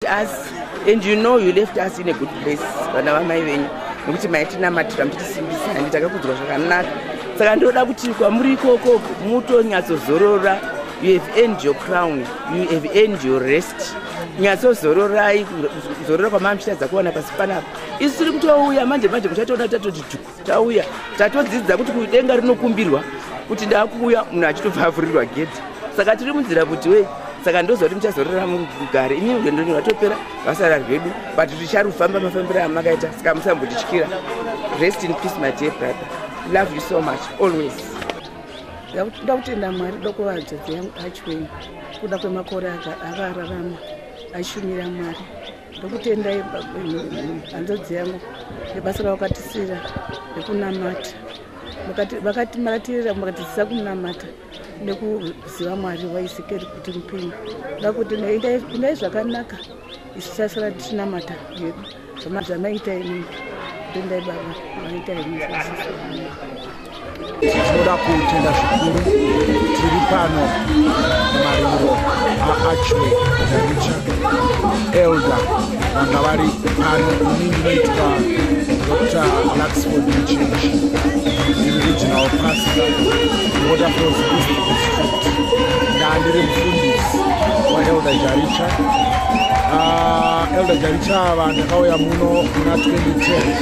us and you know you left us in a good place vana vamai venyu nekuti maitinamatira mutisimbisa handi takakudzwa zvakanaka saka ndinoda kuti kwamuri ikoko mutonyatsozorora you have end your crown you have end your rest nyatsozororai zorora kwamamshita dzakuwana pasi panapa isu tiri kutouya manje manje muchatoona tatoti tauya tatodzidza kuti kudenga rinokumbirwa kuti ndakuuya munhu achitobva avhurirwa gedhi saka tiri munzira kuti wei saka ndoziva kuti muchazorora mugare imi rwendo rwatopera vasara rwedu but ticharufamba mafambiro amakaita saka musambotityira rest in peace my dear brother love you so much always nda kutenda mwari doko vadzodzi yangu achweni kuda kwemakore avararama aishumira mwari ndokutendai hanzvadzi yangu nebasa ravakatisira rekunamata vakatimatirira vakatidzisa kunamata nekuziva mwari waisikeri kuti mupenyu vakuti indai zvakanaka isu sasara tichinamata hedu zvamaiita ini ndendai baba maiita ini tinoda kutenda zvikuru tiri pano maringo aachway daricha elder vanga vari pano ini ndinoitwa dr luxford mchinji ndiri regional pastor waterfalls east district ndandiri mufundisi waelder jaricha ah, elder jaricha ava ndakauya muno kuna 2010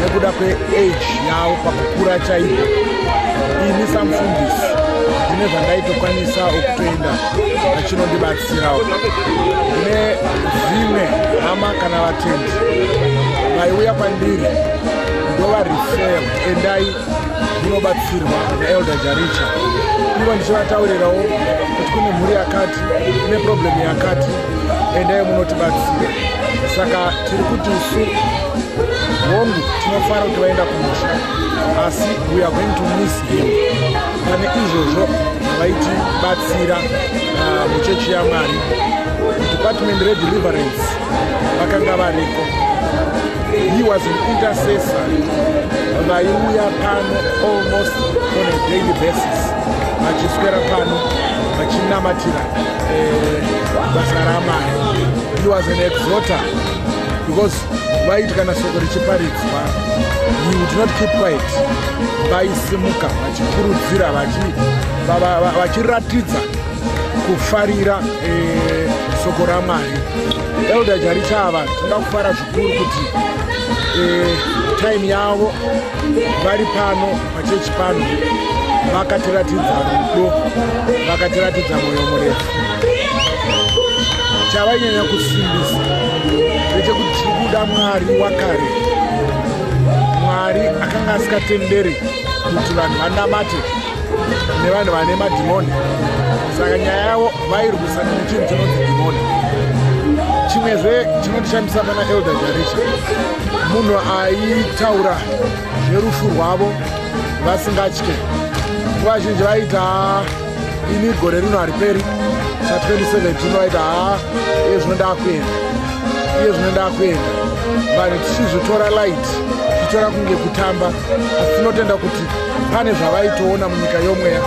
nekuda kweage yavo pakukura chaivo ini samufundisi ndine zvandaitokwanisa ukutoenda vachinondibatsirawo ndine dzimwe hama kana vatendi vaiuya kwandiri ndovarifel endai munobatsirwa naelder jaricha ivo ndichivataurirawo kuti kune mhuri yakati ine problemu yakati endai munotibatsira saka tiri kuti isu hongu tinofara kuti vaenda kumusha asi we are going to miss him pane izvozvo vaitibatsira ah, muchechi yamwari department redeliverance vakanga variko he was an intercessor vaiuya pano almost on a daily basis vachiswera pano vachinamatira basa ramai he was an exoter because vaiti kana soko richiparidzwa he would not keep quiet vaisimuka vachikurudzira vachiratidza kufarira eh, soko ramai elder jarichava tinga kufara kuti eh, time yavo vari pano pachechi pano vakatiratidza rudo vakatiratidza mwoyo murefu chavainyanya kusimbisa ndechekuti tiri kuda mwari wakare mwari akanga asikatenderi kuti vanhu vanamate nevanhu vane madhimoni saka nyaya yavo vairwisana nechinhu chinonzi dhimoni chimwezve chinotishambisa pana elder jaricha munhu aitaura nerufu rwavo vasingatye nguva zhinji vaita ini gore rino hariperi sa 2017 vaita ha iye zvino ndakuenda iye zvino ndakuenda vanhu tichizvitora light tichitora kunge kutamba asi tinotenda kuti pane zvavaitoona munyika yomweya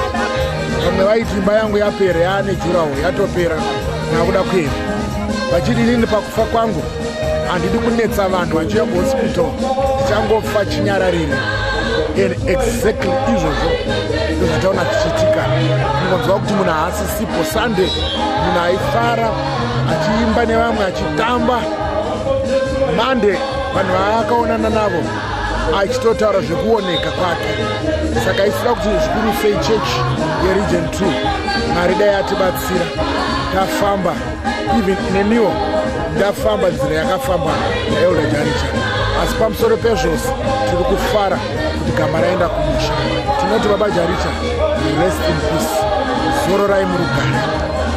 vamwe vaiti imba yangu yapera yaane juraho yatopera nakuda kuenda vachiti inini pakufa kwangu handidi kunetsa vanhu vachiuya kuhospital ndichangofa chinyararire and exactly izvozvo ndozvataona zvichiitika ungonzwa kuti munhu haasisipo sunday munhu aifara achiimba nevamwe achitamba monday vanhu vaakaonana navo achitotaura zvekuoneka kwake saka isira kuti zvikuru sei chechi yeregion two mari dai atibatsira tafamba even neniwo ndafamba nzira yakafamba naelda jaricha asi pamusoro pezvose tiri kufara kuti gama raenda kumusha tinoti baba jaricha rest in peace zororai murugare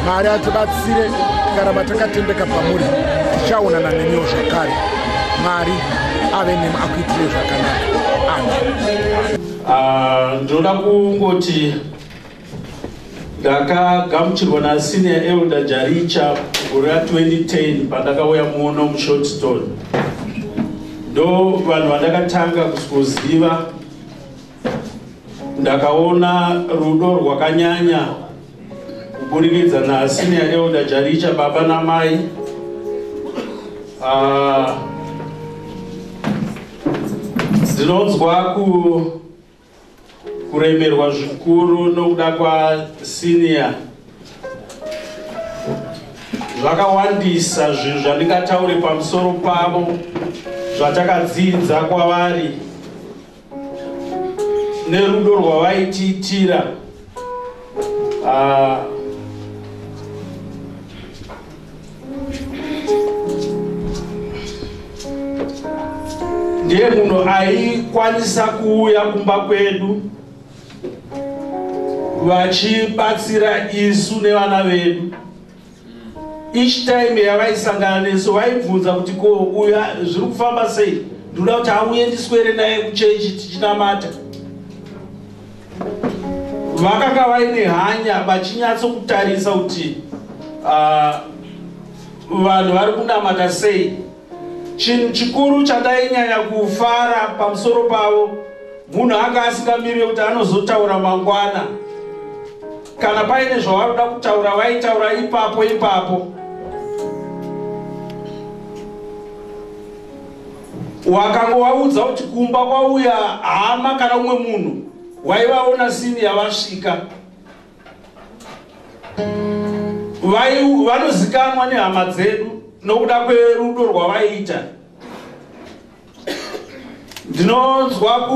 mari atibatsire tikaramba takatendeka pamuri tichaonana neniwo zvakare mari ave nemu akuitire zvakanaka ah, ndinoda kungoti ndakagamuchirwa nasenior elder jaricha gore ra 2010 pandakauya muno mushortstone ndo vanhu vandakatanga kuziva ndakaona rudo rwakanyanya kuburikidza nasenior elder jaricha baba namai ah, ndinonzwa ku kuremerwa zvikuru nokuda kwasenior zvakawandisa zvinhu zvandingataure pamusoro pavo zvatakadzidza kwavari nerudo rwavaitiitira ah, ndiye munhu aikwanisa kuuya kumba kwedu vachibatsira isu nevana vedu Each time yavaisangana nesu vaibvunza kuti ko uyu zviri kufamba sei? Ndoda kuti auye ndiswere naye kuchechi tichinamata. Vakanga vaine hanya vachinyatso kutarisa kuti uh, vanhu vari kunamata sei Chinhu chikuru chandainyanya kufara pamusoro pavo munhu anga asingamirire kuti anozotaura mangwana. Kana paine zvavanoda kutaura vaitaura ipapo ipapo. Wakanga waudza kuti kumba kwauya hama kana umwe munhu waivaona sini yavasvika. vanozikamwa nehama dzedu nokuda kwerudo rwavaiita ndinonzwa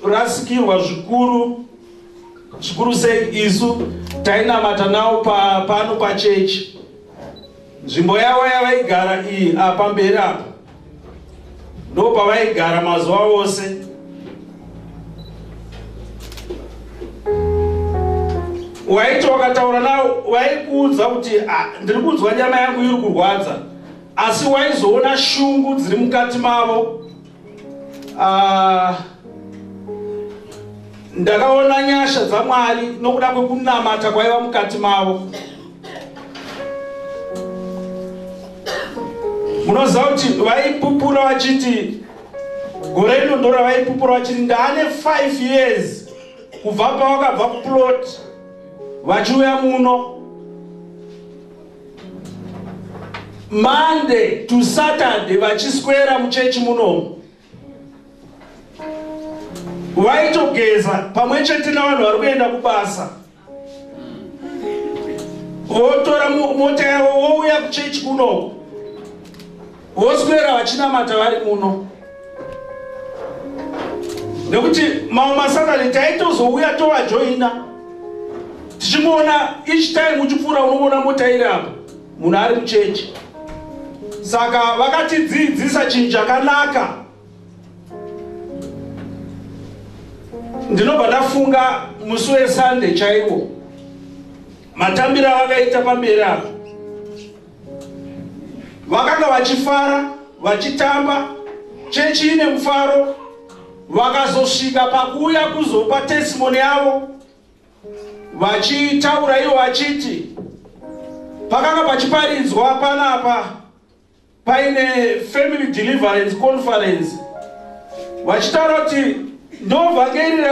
kurasikirwa zvikuru zvikuru sei isu tainamata nawo pano pachechi nzvimbo yavo yavaigara iyi apa mberi apa ndopavaigara mazuva ose waiti wakataura navo vaikuudza kuti ah, ndiri kunzwa nyama yangu iri kurwadza asi waizoona shungu dziri mukati mavo ah, ndakaona nyasha dzamwari nokuda kwekunamata kwaiva mukati mavo munoziva kuti vaipupura vachiti gore rino ndora vaipupura vachiti ndaane 5 years kubva pavakabva kuplot vachiuya muno monday to saturday vachiswera muchechi munomu vaitogeza pamwe chete navanhu vari kuenda kubasa votora mota yavo vouya kuchechi kunoko voswera vachinamata vari muno nekuti mamwe masatani taitozouya tovajoina tichimboona each time uchipfuura unoona mota iri apo munhu ari muchechi saka vakatidzidzisa chinhu chakanaka ndinobva ndafunga musi wesunday chaiwo matambiro avakaita pamberi apo vakanga vachifara vachitamba chechi ine mufaro vakazosvika pakuuya kuzopa testimoni yavo Vachitaura ivo vachiti pakanga pachiparidzwa panapa paine family deliverance conference vachitaura kuti ndovhangeri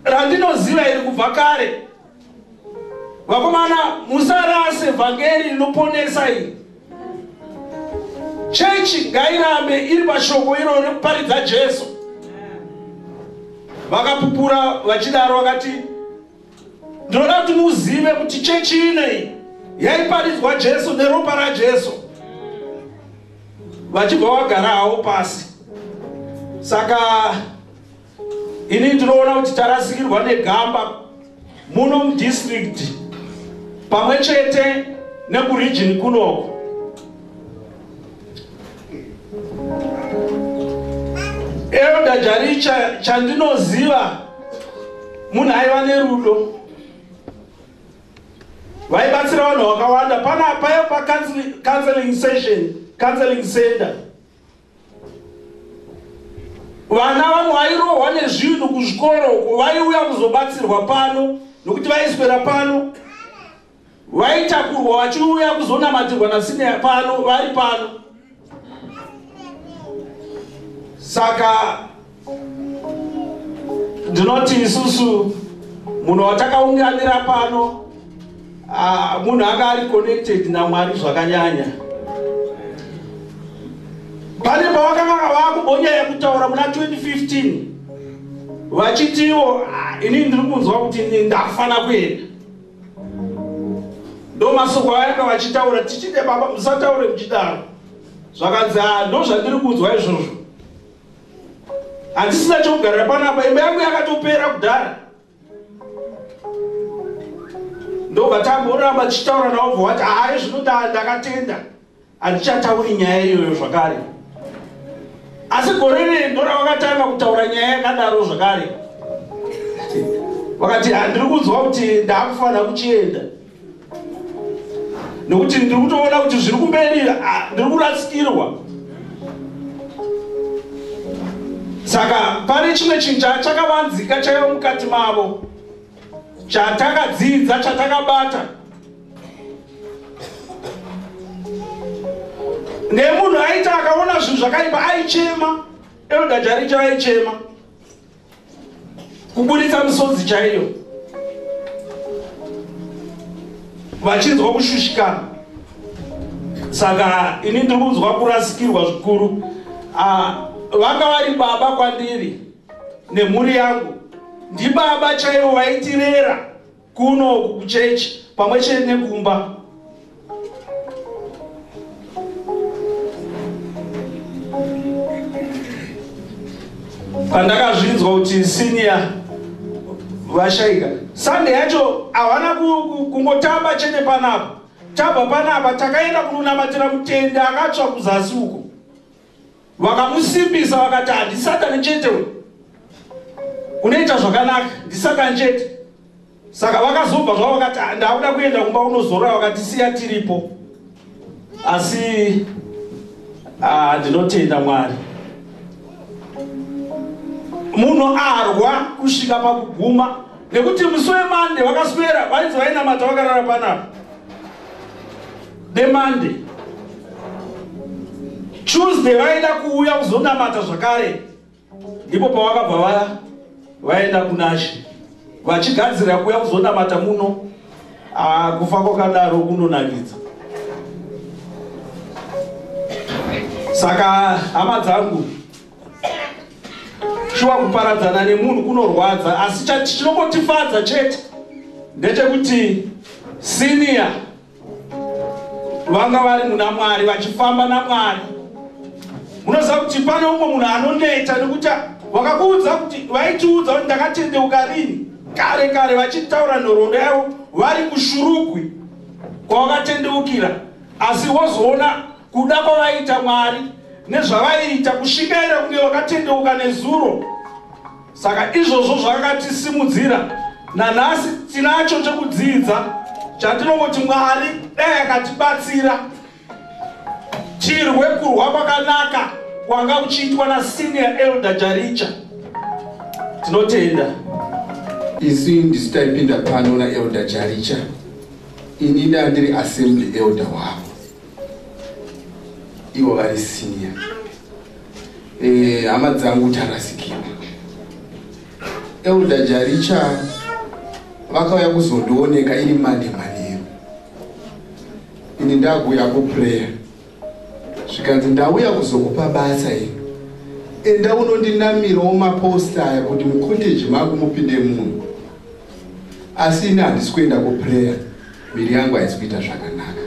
randinoziva iri kubva kare vakomana musarase vhangeri rinoponesa iri chechi ngairambe iri pashoko iro rekuparidza jesu vakapupura vachidaro vakati ndinoda kuti muzive kuti chechi inei yaiparidzwa jesu neropa rajesu vachibva vagarawo pasi saka Ini ndinoona kuti tarasikirwa negamba muno mudistrict pamwe chete nekuregion kunoko. Elder Jaricha chandinoziva munhu aiva nerudo vaibatsira vanhu vakawanda panapaya pacounseling session counseling center vana vanhu vairohwa nezvinhu kuzvikoro uko vaiuya kuzobatsirwa pano nokuti vaiswera pano vaitakurwa vachiuya kuzonamatirwa nasine pano vari pano saka ndinoti isusu munhu watakaunganira pano ah, munhu anga ari connected namwari zvakanyanya pane pavakanga vakubonya yekutaura muna 2015 vachitiwo ah, ini ndiri kunzwa kuti ndakufana kuenda ndomasoko vayanga vachitaura tichide baba musataure muchidaro zvakanzi ah, ndozvandiri kunzwa izvozvo handisina chokugarira panapa imba yangu yakatopera kudhara ndobva tamboramba tichitaura navo bva wati hayi zvinoda ndakatenda handichatauri nyaya iyoyo zvakare asi gore rei ndoravakatanga kutaura nyaya yakadaro zvakare vakati handiri kunzwa kuti ndakufanira kuchienda nekuti ndiri kutoona kuti zviri kumberi ndiri kurasikirwa saka pane chimwe chinhu chachakavanzika chaiva mukati mavo chatakadzidza chatakabata nemunhu aita akaona zvinhu zvakaipa aichema erodajaricha vaichema kuburitsa misodzi chaiyo vachinzwa kushushikana saka ini ndiri kunzwa kurasikirwa zvikuru ah, vanga vari baba kwandiri nemhuri yangu ndibaba chaivo vaitirera Kuno uku kuchechi pamwe chete nekumba. Pandakazvinzwa kuti senior vashaika Sunday yacho havana kungotamba chete panapa tabva panapa takaenda kunonamatira mutende akatsva kuzasi uko vakamusimbisa vakati handisatani chete uyu unoita zvakanaka ndisatani chete saka vakazobva zvavo vakati ah, ndakuda kuenda kumba unozorora vakati siya tiripo asi ah, ndinotenda mwari munhu arwa kusvika pakuguma nekuti musi wemande vakaswera vainzi vainamata vakarara panapa nemonday tuesday vaida kuuya kuzonamata zvakare ndipo pavakabva vaya vaenda kunashe vachigadzirira kuuya kuzonamata muno ah, kufa kwakadaro kunonakidza saka hama dzangu shuwa kuparadzana nemunhu kunorwadza asi chinongotifadza chete ndechekuti siniya vanga vari muna mwari vachifamba namwari munoziva kuti pane umwe munhu anoneta nekuti vakakuudza kuti vaitiudza kuti ndakatendeuka rini kare kare vachitaura nhoroondo yavo vari kushurugwi kwavakatendeukira asi wozoona Kuda kwavaiita Mwari nezvavaiita kushingaira kunge vakatendeuka nezuro. Saka izvozvo zvakatisimudzira. Nanhasi tinacho chekudzidza chatinongoti Mwari dai akatibatsira tirwe kurwa kwakanaka kwanga kuchiitwa nasenior elder Jaricha. Tinotenda. Isu ndisi taipinda pano naelder Jaricha. Ini ndandiri assembly elder wavo. ivo vari senior eh, hama dzangu tarasikira elder jaricha vakauya kuzondioneka iri mande manheru ini ndakuuya kuprayer zvikanzi ndauya kuzokupa basa iri enda unondinamirawo maposta aya kuti mucotage mangu mupinde munhu asi ini handisi kuenda kuprayer Miri yangu haisi kuita zvakanaka.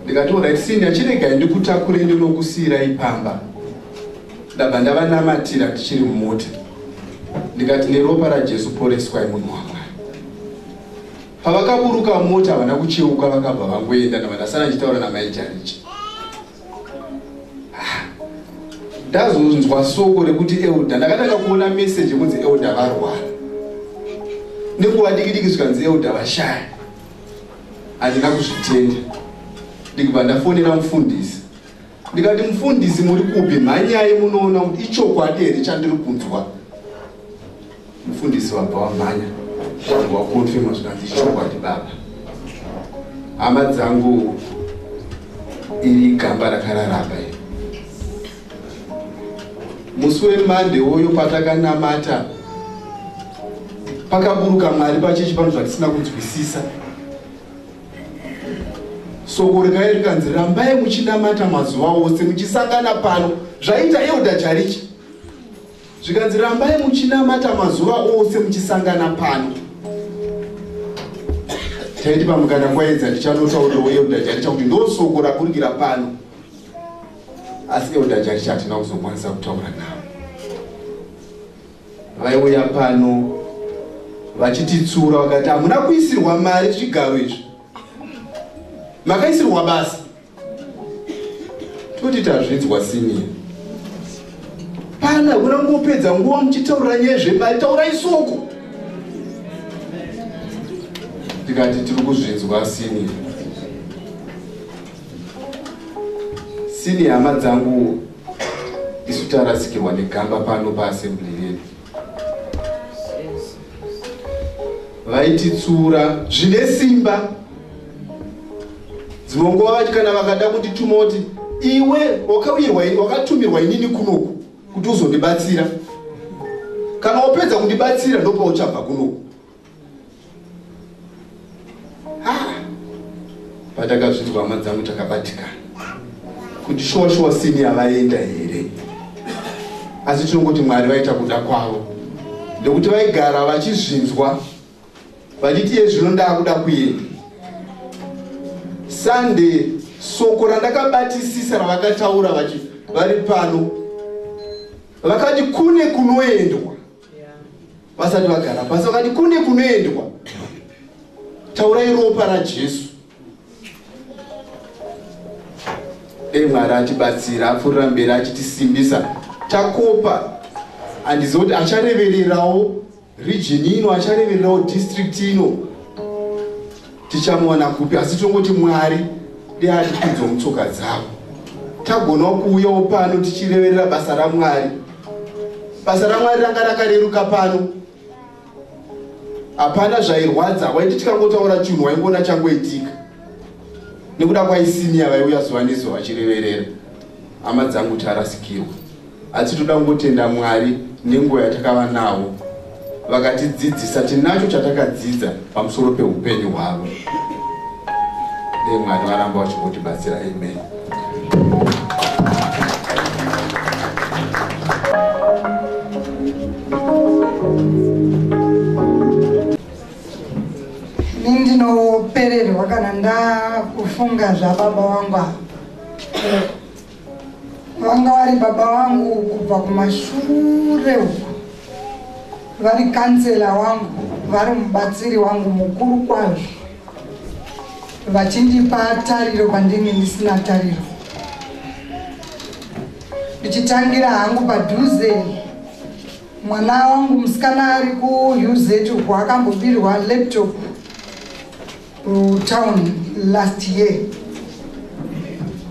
Ndikati alright Cindy chiregai ndikutakure ndinokusiira ipamba. Ndabva ndavanamatira tichiri mumota. Ndikati neropa raJesu poreswai munhu wangu. pavakaburuka mota havana kucheuka vakabva vangoenda ndava ndasara ndichitaura namai jarichi ndazonzwa soko rekuti elder ndakatanga kuona message yekunzi elder varwara nenguva dikidiki zvikanzi elder vashaya handina kuzvitenda ndikubva ndafonera mufundisi ndikati mufundisi muri kupi mhanyai munoona kuti ichokwadi here chandiri kunzwa mufundisi wabva wamhanya wangu wakonfirma zvikanzi chokwadi baba hama dzangu iri gamba rakararaba iri musi wemande woyo patakanamata pakaburuka mwari pachechi pano zvatisina kunzwisisa soko rikai rikanzi rambai muchinamata mazuva ose muchisangana pano zvaita euda jarichi zvikanzi rambai muchinamata mazuva ose muchisangana pano taiti pamukana kwaedza ndichanotaurira weelda jaricha kuti ndosoko raburikira pano asi elda jaricha hatina kuzokwanisa kutaura navo vaiuya pano vachititsura vakati hamuna kuisirwa mari zvigaro izvi makaisirwa basa toti tazvinzwa senior pana kuna kungopedza nguva muchitaurira nyaya zvemari taurai soko tikati tiri kuzvinzwa senior senior hama dzangu isu tarasikirwa negamba pano paassembly vaititsura zvine simba dzimwe nguva vati kana vakada kundituma kuti iwe wakauyirwa wakatumirwa inini kunoku kuti uzondibatsira kana wapedza kundibatsira ndopauchabva kunoku patakazvinzwa hama dzangu takabatikana kuti shuwa shuwa sini yavaenda here asi tinongoti mwari vaita kuda kwavo nekuti vaigara vachizvinzwa vachiti ye zvino ndaakuda kuenda sunday soko randakabatisisa ravakataura vachi vari pano vakati kune kunoendwa vasati vagara pasi vakati kune kunoendwa taurai ropa rajesu dei mwari atibatsira apfuurira mberi achitisimbisa takopa handiziva kuti acharevererawo region ino acharevererawo district ino tichamuwana kupi asi tinongoti mwari dei atipinzwa mutsoka dzavo tagonawo kuuyawo pano tichireverera basa ramwari basa ramwari ranga rakareruka pano hapana zvairwadza waiti tikangotaura chinhu waingoona changoitika nekuda kwaisimiya vaiuya zuva nezuva vachireverera hama dzangu tarasikirwa Asi toda kungotenda Mwari nenguva yatakava navo vakatidzidzisa tinacho chatakadzidza pamusoro peupenyu hwavo. Dei Mwari varamba vachingotibatsira. Amen. Ini ndinopererwa kana ndakufunga zvababa wangu ava. vanga vari baba vangu kubva kumashure uku vari kansela wangu vari mubatsiri wangu mukuru kwazvo vachindipa tariro pandinge ndisina tariro ndichitangira hangu padhuze mwana wangu musikana ari kuuz uku akambobirwa laptop kutown last year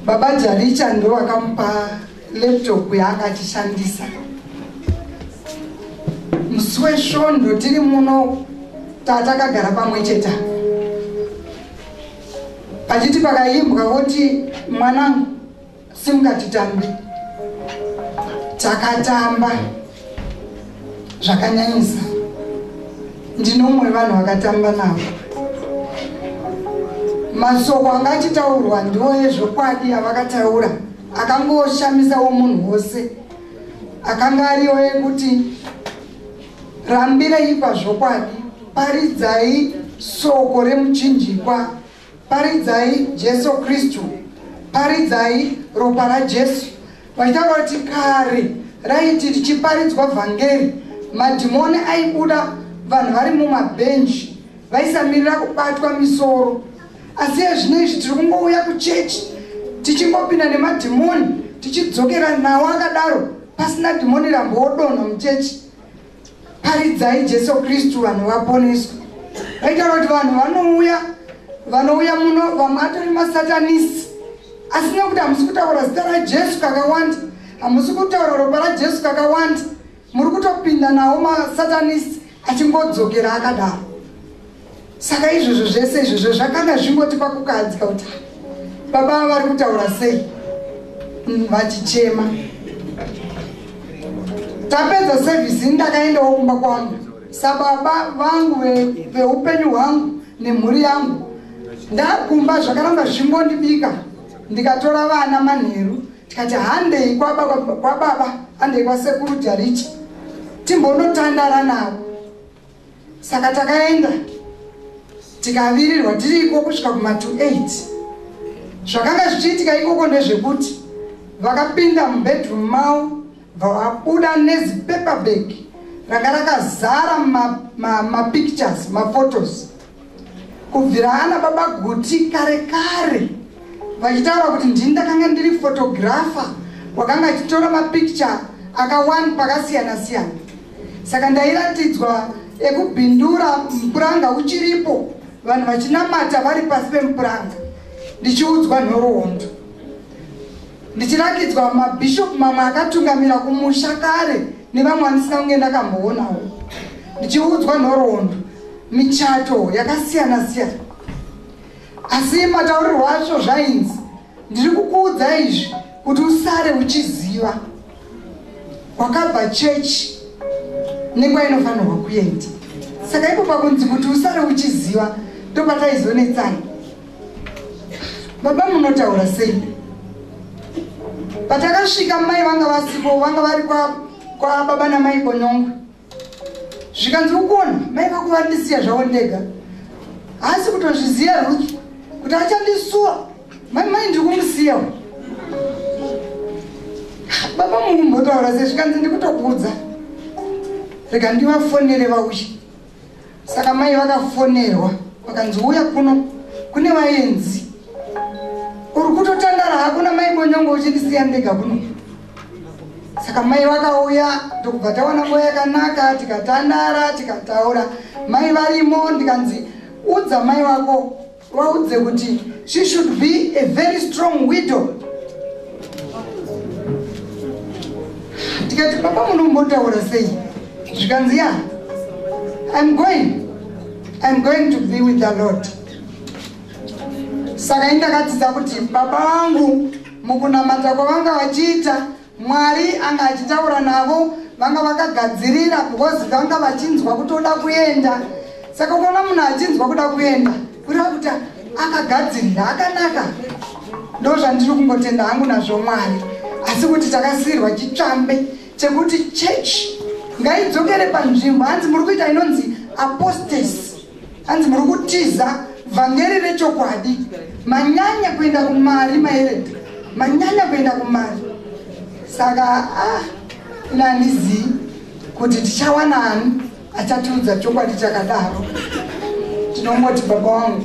baba jaricha ndo vakamupa laptop yaakachishandisa musi wesvondo tiri muno tatakagara pamwe cheta pachiti pakaimbwa voti mwanangu Simuka titambe. Takatamba zvakanyanyisa. Ndine umwe vanhu vakatamba navo. Masoko anga achitaurwa ndiwo ezvokwadi avakataura akangoshamisawo munhu wose akanga ariwo ekuti rambireipa zvokwadi paridzai soko remuchinjikwa Paridzai Jesu Kristu, paridzai ropa raJesu. Vachitaura kuti kare raiti richiparidzwa vhangeri, madhimoni aibuda vanhu vari mumabhenji vaisamirira kubatwa misoro. Asi ezvino izvi tiri kungouya kuchechi tichingopinda nemadhimoni tichidzokera nawo akadaro pasina dhimoni rambodonha muchechi. Paridzai Jesu Kristu vanhu vaponeswe. Vaitaura kuti vanhu vanouya vanouya muno vamwe atori masatanisi asi nekuti hamusi kutaura zita rajesu kakawanda hamusi kutaura ropa rajesu kakawanda muri kutopinda nawo masatanisi achingodzokera akadaro saka izvozvo zvese izvozvo zvakanga zvingoti pakukahadzika kuti baba ava vari kutaura sei mm, vachichema tapedza sevhisi ini ndakaendawo kumba kwangu sababa vangu veupenyu hwangu nemhuri yangu ndakumba zvakaramba zvingondibika ndikatora vana manheru tikati handei kwababa handei kwasekuru jarichi timbonotandara navo saka takaenda tikavirirwa tiri iko kusvika kuma 28 zvakanga zvichiitika ikoko ndezvekuti vakapinda mubedroom mavo vabuda nezipaperbag ranga rakazara mapictures ma maphotos Kubvira ana baba Guti kare kare vachitaura kuti ndini ndakanga ndiri photographer wakanga achitora mapicture akawani pakasiyana siyana saka ndairatidzwa ekubhindura mupuranga uchiripo vanhu vachinamata vari pasi pemupuranga ndichiudzwa nhoroondo ndichirakidzwa mabhishopu mamwe akatungamira kumusha kare nevamwe andisina kunge ndakamboonawo ndichiudzwa nhoroondo michato yakasiyana siyana asi mataurirwo acho zvainzi ndiri kukuudza izvi kuti usare uchiziva kwakabva chechi nekwayinofanirwa kuenda saka ipo pakunzi kuti usare uchiziva ndopataizonetsana baba munotaura sei patakasvika mai vanga vasipo vanga vari kwababa namai konyongwe zvikanzi ukuona mai vako vandisiya zvavo ndega haasi kutozviziva ruth kuti achandisuwa mai mai ndiri kumusiyawo baba mungu mbotaura se zvikanzi ndikutokuudza rega ndivafonere vauchi Saka mai vakafonerwa vakanzi uya kuno kune vaenzi. Uri kutotandara hako namai Bonyongo uchindisiya ndega kuno. Saka mai vakauya ndokubva tawana nguva yakanaka tikatandara tikataura. Mai varimo ndikanzi udza mai vako Waudze kuti she should be a very strong widow. Tikati baba munombotaura sei? Zvikanzi ya. I'm going. I'm going to be with the Lord. Saka indakatidza kuti baba vangu mukunamata kwavanga vachiita Mwari anga achitaura navo vanga vakagadzirira because vanga vachinzwa kutoda kuenda saka ukaona munhu achinzwa kuda kuenda kureva kuti akagadzirira akanaka ndo zvandiri kungotenda hangu nazvo mwari asi kuti takasiirwa chitsvambe chekuti chechi ngaidzokere panzvimbo hanzi muri kuita inonzi apostasy Hanzi muri kutiza vhangeri rechokwadi, manyanya kuenda kumari maerenda, manyanya kuenda kumari. Saka ah, ini handizii kuti tichawana ani achatiudza chokwadi chakadaro. Tinongoti baba wangu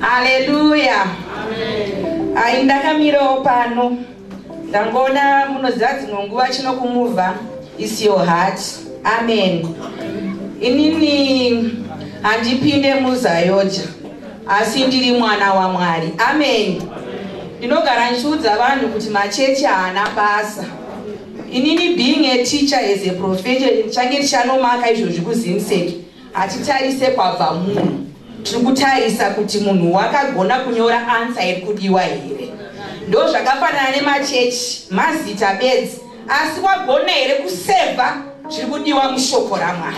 Haleluya. Ayi ndakamirawo pano ndangoona munoziva dzimwe nguva chino kumuva is your heart. Amen. Inini handipinde muzayoja asi ndiri mwana waMwari. Amen. Ndinogara ndichiudza vanhu kuti machechi haana basa. Inini being a teacher as a profession change tichanomaka izvozvi kuZimsec. Hatitarise kwabva munhu, tiri kutarisa kuti munhu wakagona kunyora ansa iri kudiwa here. Ndo zvakafanana nemachechi, mazita bedzi, asi wagona here kusevha zviri kudiwa mushoko raMwari.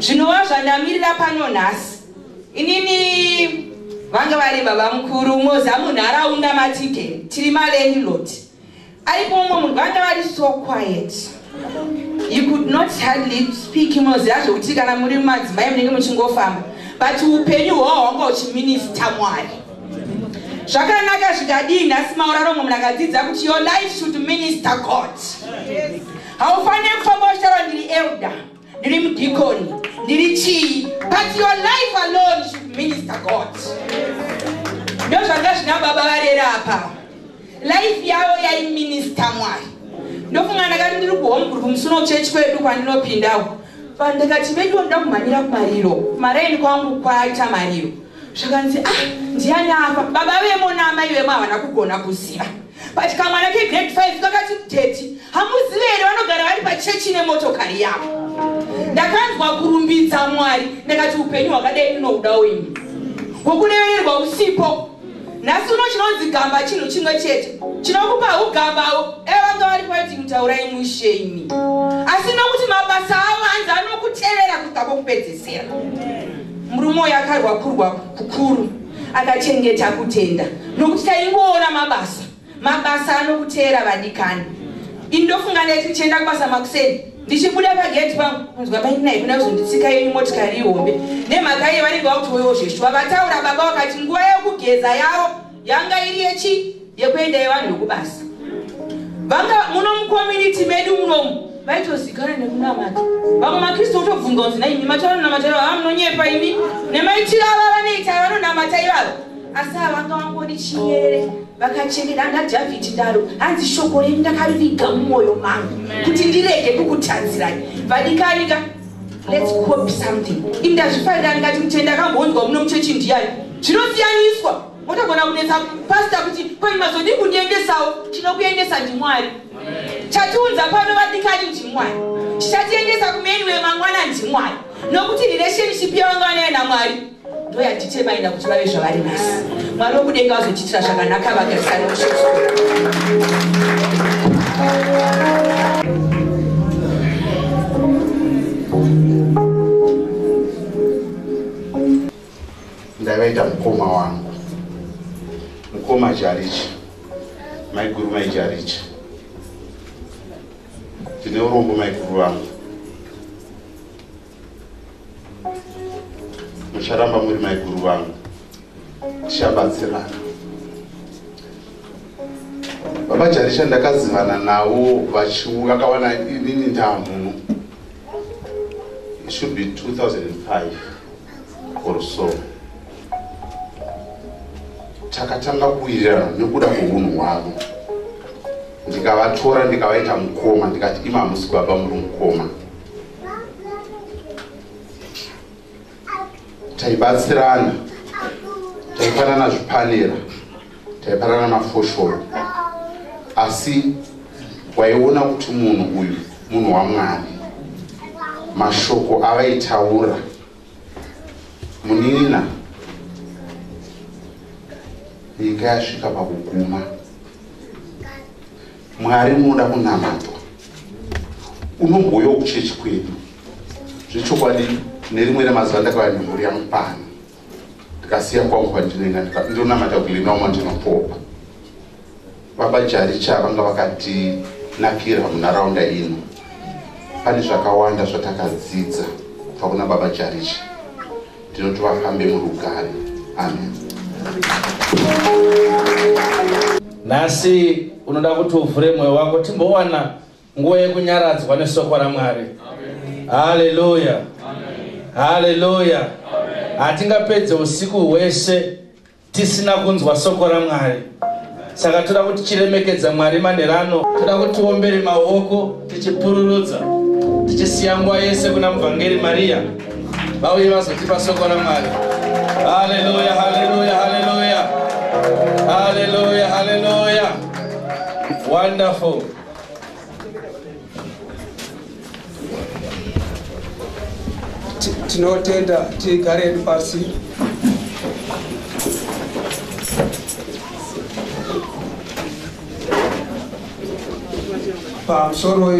Zvinova zvandamirira pano nhasi. Inini vanga vari baba mukuru moza munharaunda matike tiri malandlord Aripo umwe munhu vanga vari so quiet. He could not hardly speak munoziva zvekuti kana muri mumadzimai munenge muchingofamba but upenyu hwawo hwanga huchiminista mwari zvakanaka zvikadii nhasi mauraro mumwe munhu akadzidza kuti your life should minister god haufanire kufamba uchitaura ndiri elder ndiri mudhikoni ndiri chii but your life alone should minister god ndozvanga zvina baba varera apa life yavo yaiminista mwari ndofunga ndakati ndiri kuhomgroup musuno kuchechi kwedu kwandinopindawo vanhu ndikati veduwo ndoda kumhanyira kumariro maraini kwangu kwaita mariro zvakanzi ah ndiani apa baba vemo naamai vemo havana kugona kuziva but kamwana kegrade 5 kakati teti hamuzive here vanogara vari pachechi nemotokari yavo ndakanzwa kurumbidza mwari ndakati upenyu hwakadai ndinouda wenyu hwokurevererwa usipo nhasi uno chinonzi gamba chinhu chimwe chete chinokupa ugambao evanga vari kwaiti mutaura imwi shemi asi nokuti mabasa avo anzi anokutevera kusvika kwokupedzesera murume uyo akarwa kurwa kukuru akachengeta kutenda nokuti taingoona mabasa mabasa anokuteera vadikani ini ndofunga ndaiti ndichienda kubasa makuseni ndichibuda pageti pangu kunzwa maininai kuna kuzonditsika yenyu motikari ihombe nemhaka iye vanenge vakuti wewo zveshuwa vataura baba vakati nguva yekugeza yavo yanga iri yechi yekuenda yevanhu vekubasa vanga muno mucommunity medu munomu vaitozikana nekunamata vamwe makristu otobvunza kunzi naimi mata vanonamata ivava munonyepa imi nemaitiro ava vanoita vanonamata ivava asi avanga vangoni chinyerere vakachengeta anga dhavhidhi ndaro hanzi shoko renyu ndakariviga mumwoyo mangu kuti ndirege kukutadzirayi vadikanika lets cop something ini ndazvifarira ndikati mutenda akambonzwa muno muchechi ndiyani zvinosiyaniswa motogona kunetsa pasta kuti kwenyu mazodii kundiendesawo tinokuendesa ndimwari chatiunza pano vadikani ndimwari chichatiendesa kumeni wemangwana ndimwari nokuti relationship yavanga vanayo namwari ndoyatite vaenda kuti vave zvavari masi mwari wokudenga vazotiitira zvakanaka vagarisani mushoso ndaivaita mukoma wangu mukoma jarichi maiguru maijarichi ndine urombo maiguru vangu mucharamba muri maiguru vangu tichabatsirana baba jaricha ndakazivana navo vachiuya akawana inini ndaa mhuno it should be 2005 or so takatanga kuwirirana nekuda kweunhu hwavo ndikavatora ndikavaita mukoma ndikati ima hamusi baba muri mukoma taibatsirana taifanana zvipanera taipanana mafoshoro asi waiona kuti munhu uyu munhu wamwari mashoko avaitaura muninina nyika yasvika pakuguma mwari munoda kunamatwa unomboyo kuchechi kwedu zvechokwadi nerimwe remazuva ndakava nemhuri yamupano ndikasiya kwangu kwandinoenda ndonamata kulina uma ndinopopa baba jaricha vanga vakatinakira munharaunda ino pane zvakawanda zvatakadzidza kubva kuna baba jaricha ndinoti vafambe murugare amen nhasi unoda kuti uvhure mwoyo wako timbowana nguva yekunyaradzwa nesoko ramwari haleluya haleluya hatingapedze usiku hwese tisina kunzwa soko ramwari saka toda kuti chiremekedza mwari manherano toda kuti tiombere maoko tichipururudza tichisiya nguva yese kuna muvhangeri mariya vauye vazotipa soko ramwari haleluya haleluya haleluya haleluya haleluya wonderful tinotenda tigareni pasi pamusoro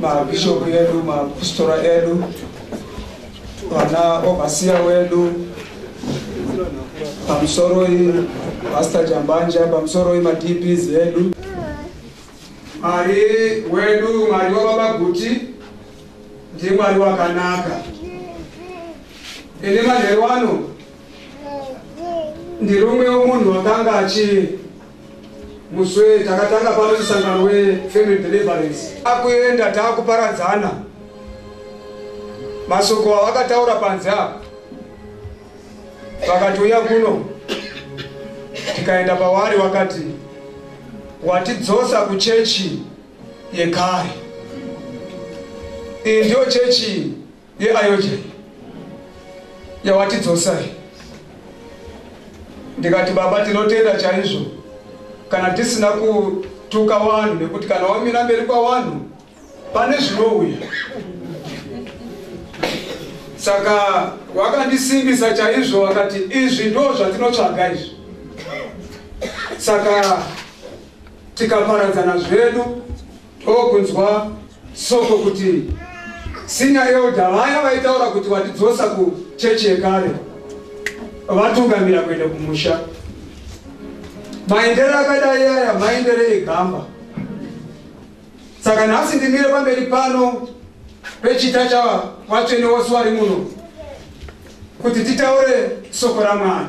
mabishopu edu mapostora edu vana ovasiya wedu pamusoroi pasta jambanja pamusoroi madps edu mwari wedu mwari wavabaguti ndimwari wakanaka ini manheru ano ndirumwewo munhu wakanga achii Muswe takatanga pano musangano wefamily deliverance akuenda taakuparadzana masoko avakataura panze apo vakatouya kuno tikaenda pavari wakati watidzosa kuchechi yekare iyi ndiyo chechi yeayoje yawatidzosai ndikati baba tinotenda chaizvo kana tisina kutuka vanhu nekuti kana wamira mberi kwavanhu pane zvinouya saka wakandisimbisa chaizvo wakati izvi ndo zvatinotsvaga izvi saka tikaparadzana zvedu Ndokunzwa soko kuti senior elder vaya vaitaura kuti vatidzosa kuchechi yekare vatungamira kuenda kumusha. Maendere akadai aya maendere egamba. Saka nhasi ndimire pamberi pano pechita chavatsvene vose vari muno kuti titaure soko raMwari.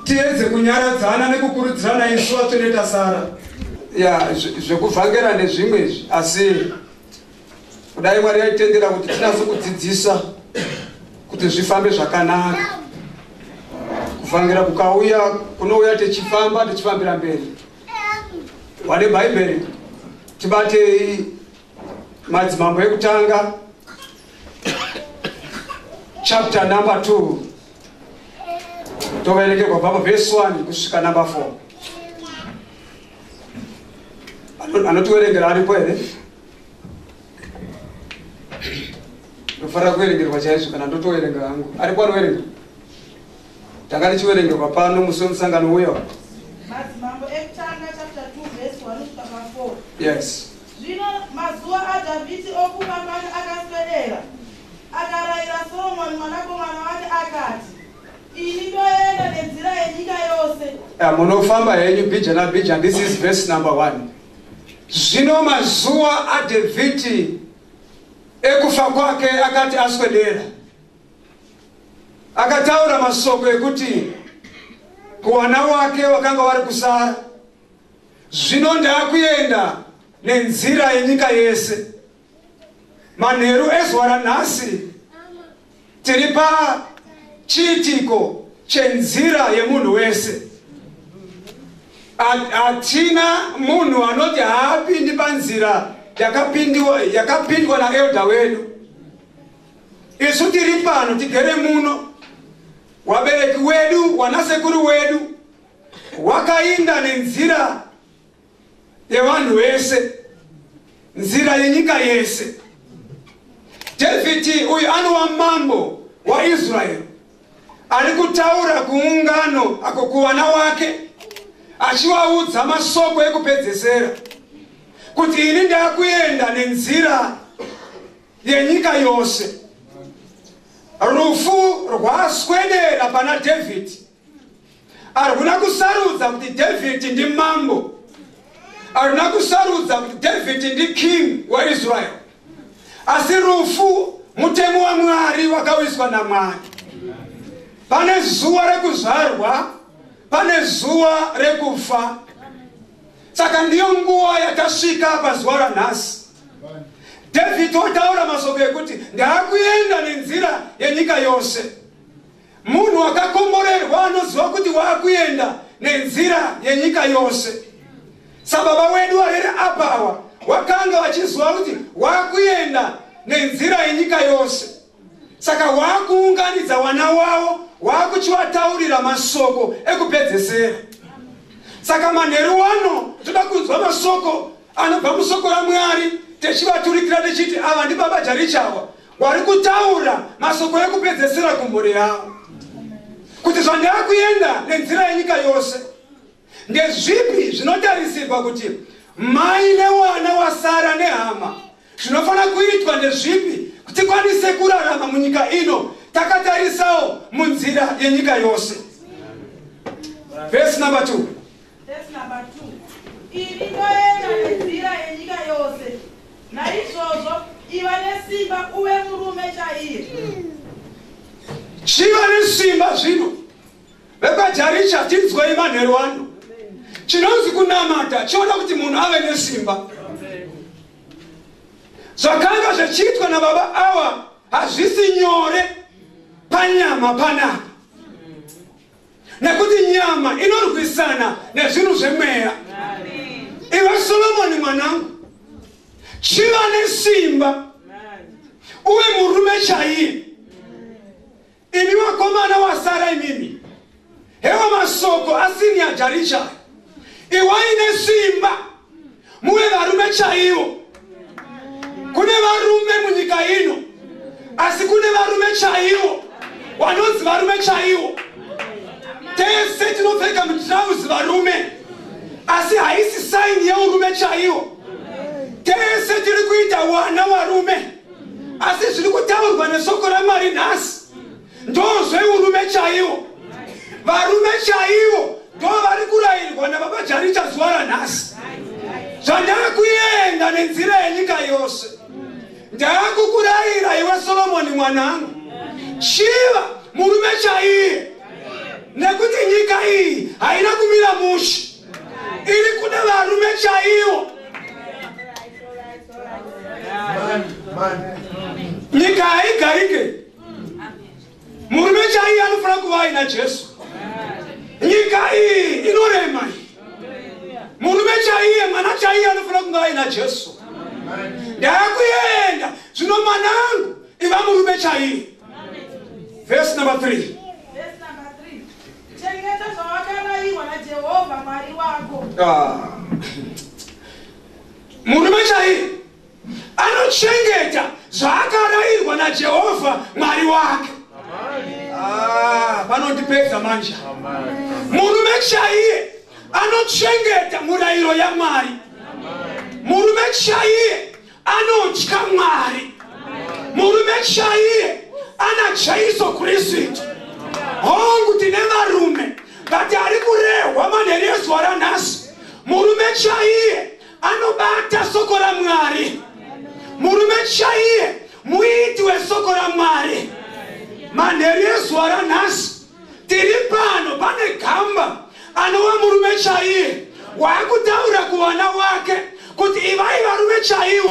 tiedze kunyaradzana nekukurudzirana isu vatsvene tasara ya zvekuvhangera zve nezvimwe izvi asi kudai mwari yaitendera kuti tinase kudzidzisa kuti zvifambe zvakanaka kuvhangera kukauya kunouya tichifamba tichifambira mberi wane bhaibheri tibatei madzimambo ekutanga chapter number 2 toverekerwa baba vhesi 1 kusvika number 4 anotiverengera aripo here ndofanira kuverengerwa chaizvo kana ndotoverenga hangu aripo anoverenga tanga tichiverengerwa pano musi wemusangano uya yes Zvino mazuva aDhavhidhi okuva pano akaswedera, akarayira Soromoni mwanakomana wake akati, Ini ndoenda nenzira yenyika yose. Ya, munofamba henyu bhija nabhija. This is verse number one. Zvino mazuva aDhavhidhi ekufa kwake akati aswedera, akataura masoko ekuti kuwana wake wakanga wari kusara Zvino ndaakuenda nenzira yenyika yese. Manheru ezuva ranhasi tiri pachiitiko chenzira yemunhu wese. Hatina munhu anoti haapindi panzira yakapindwa naelda wedu. Isu tiri pano tigere muno, wabereki wedu, wanasekuru wedu, Wakainda nenzira yevanhu vese, nzira yenyika yese. Dhavhidhi uyu anova mambo waIsraeri ari kutaura kuungano ako kuvana wake achivaudza masoko ekupedzesera kuti ini ndakuenda nenzira yenyika yose. Rufu rwaswedera pana Dhavhidhi. arikuna kusarudza kuti david ndi mambo arikuna kusarudza kuti david ndi king waisrael asi rufu mutemo wamwari wakawiswa namwari pane zuva rekuzvarwa pane zuva rekufa saka ndiyo nguva yakasvika pazuva ranhasi david otaura masoko ekuti ndaakuenda nenzira yenyika yose Munhu wakakomborerwa anoziva kuti waakuenda nenzira yenyika yose. Sababa wedu varere apa awa wakanga vachiziva kuti waakuenda nenzira yenyika yose. Saka waakuunganidza wana wavo waakuchivataurira masoko ekupedzesera. Saka manheru wano toda kunzwa masoko anobva musoko raMwari techivaturikira techiti ava ndibaba Jarichawa wari kutaura mashoko ekupedzesera kumhuri yavo kuti zvandava kuenda nenzira yenyika yose ndezvipi zvinotarisirwa kuti mai newana wasara nehama zvinofanira kuitwa ndezvipi kuti kwanise kurarama munyika ino takatarisawo munzira yenyika yose vhesi number two Verse number 2. Ini ndoenda nenzira yenyika yose. Naizvozvo iva nesimba uve murume chaiye. Chiva nesimba zvino. Vekwajarisha tinzwei manheru ano. Chinonzi kunamata chinoda kuti munhu ave nesimba. Zvakanga zvichiitwa nababa awa hazvisi nyore panyama panapa. nekuti nyama inorwisana nezvinhu zvemweya iwe solomoni mwanangu chiva nesimba uwe murume chaiye imi vakomana wasara imimi hewa masoko asini yajarichai iwai nesimba muve varume chaivo kune varume munyika ino asi kune varume chaivo wanonzi varume chaivo tese tinopfeka mutirauzi varume asi haisi saini yeurume chaiwo tese tiri kuita wana warume asi zviri kutaurwa nesoko ramwari nhasi ndozveurume chaiwo varume chaiwo ndo vari kurayirwa nababa jaricha zuva ranhasi zvandava kuenda nenzira yenyika yose ndava kukurayira iwe solomoni mwanangu chiva murume chaiye nekuti nyika iyi haina kumira mushe iri kuda varume chaiwo nyika haigarike murume chaiye anofanira kuva aina jesu nyika iyi inorema iyi murume chaiye mwana chaiye anofanira kunge aina jesu ndaakuenda zvino mwana angu iva murume chaiye vhesi number three chengeta zvawakarairwa najehovha mwari wako ah. murume chaiye anochengeta zvaakarairwa najehovha mwari wake ah, panondipedza manje murume chaiye anochengeta murayiro yamwari murume chaiye anotya mwari murume chaiye ana jaiso kristu hongu tine varume vati ari kurehwa manherezuva ranhasi murume chaiye anobata soko ramwari murume chaiye muiti wesoko ramwari manheru ezuva ranhasi tiri pano pane gamba anova murume chaiye waakutaura kuvana wake kuti ivai varume chaiwo